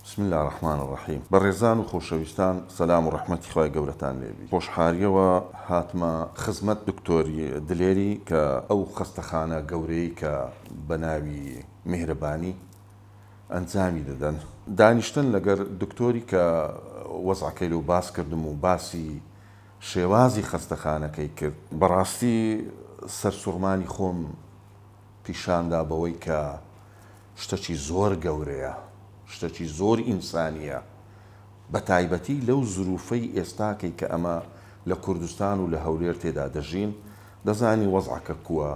بسم اللە الرحمن الرحیم بەڕێزان و خۆشەویستان سەلام و ڕەحمەتی خوای گەورەتان لێ بی خۆشحاریەوە هاتمە خزمەت دکتۆری دلێری کە ئەو خەستەخانە گەورەی کە بەناوی میهرەبانی ئەنجامی دەدەن دانیشتن لەگەر دکتۆری کە وەزعەکەی لۆ باس کردم و باسی شێوازی خەستەخانەکەی کرد بەڕاستی سەرسوڕمانی خۆم پیشاندا بەوەی کە شتەکی زۆر گەورەیە، شتەکی زۆر ئینسانییە، بەتایبەتی لەو زرووفەی ئێستاکەی کە ئەمە لە کوردستان و لە هەولێر تێدا دەژین، دەزانی وەزعەکە کووە،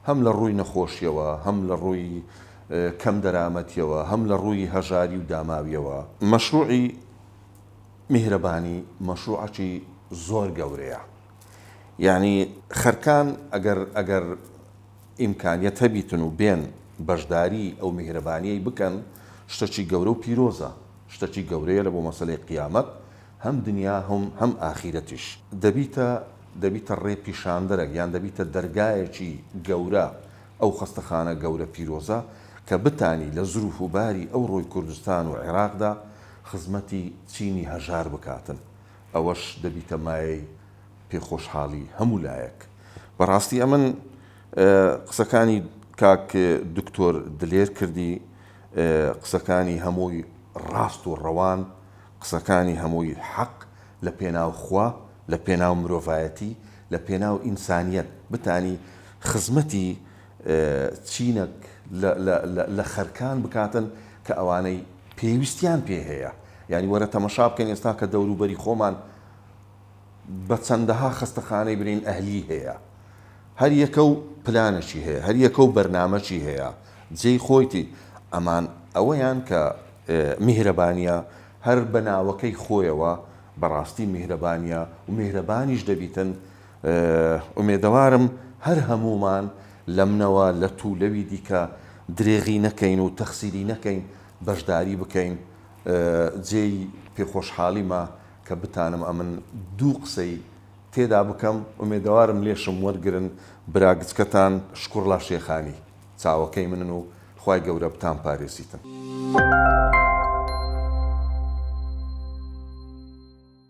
هەم لە ڕووی نەخۆشییەوە، هەم لە ڕووی کەم دەرامەتییەوە، هەم لە ڕووی هەژاری و داماوییەوە. مەشرووعی میهرەبانی مەشرووعەکی زۆر گەورەیە، یانی خەرکان ئەگەر ئەگەر. ئیمکانیەت هەبیتن و بێن بەشداری ئەو میهرەبانیەی بکەن شتەکی گەورە و پیرۆزە شتەکی گەورەیە لەبۆ مەسەلەی قیامەت هەم دنیا هەم ئاخیرەتیش دەبیتە دەبیتە ڕێ پیشاندەرەک یان دەبیتە دەرگایەکی گەورە ئەو خەستەخانە گەورە پیرۆزە کە بتانی لە زروف و باری ئەو ڕۆی کوردستان و عێراقدا خزمەتی چینی هەژار بکاتن ئەوەش دەبیتە مایەی پێ خۆشحالی هەموو لایەک بەڕاستی ئەمن قسەکانی کاک دکتۆر دلێر کردی قسەکانی هەمووی ڕاست و ڕەوان قسەکانی هەمووی حەق لە پێناو خوا لە پێناو مرۆڤایەتی لە پێناو ئینسانیەت بتانی خزمەتی چینەک لە خەرکان بکاتن کە ئەوانەی پێویستیان پێ هەیە یانی وەرە تەمەشا بکەن ئێستا کە دەوروبەری خۆمان بە چەندەها خەستەخانەی برین ئەهلی هەیە هەر یەکە و پلانەکی هەیە هەر یەکە و بەرنامەکی هەیە جێی خۆیتی ئەمان ئەوەیان کە میهرەبانیە هەر بە ناوەکەی خۆیەوە بەڕاستی میهرەبانیە و میهرەبانیش دەبیتن ئومێدەوارم هەر هەموومان لەمنەوە لە توو لەوی دیکە درێغی نەکەین و تەخسیری نەکەین بەشداری بکەین جێی پێ خۆشحالیمە کە بتانم ئەمن دوو قسەی تێدا بکەم ئومێدەوارم لێشم وەرگرن برا گچکەتان شکوڕلا شێخانی چاوەکەی منن و خوای گەورە بتان پارێزیتن.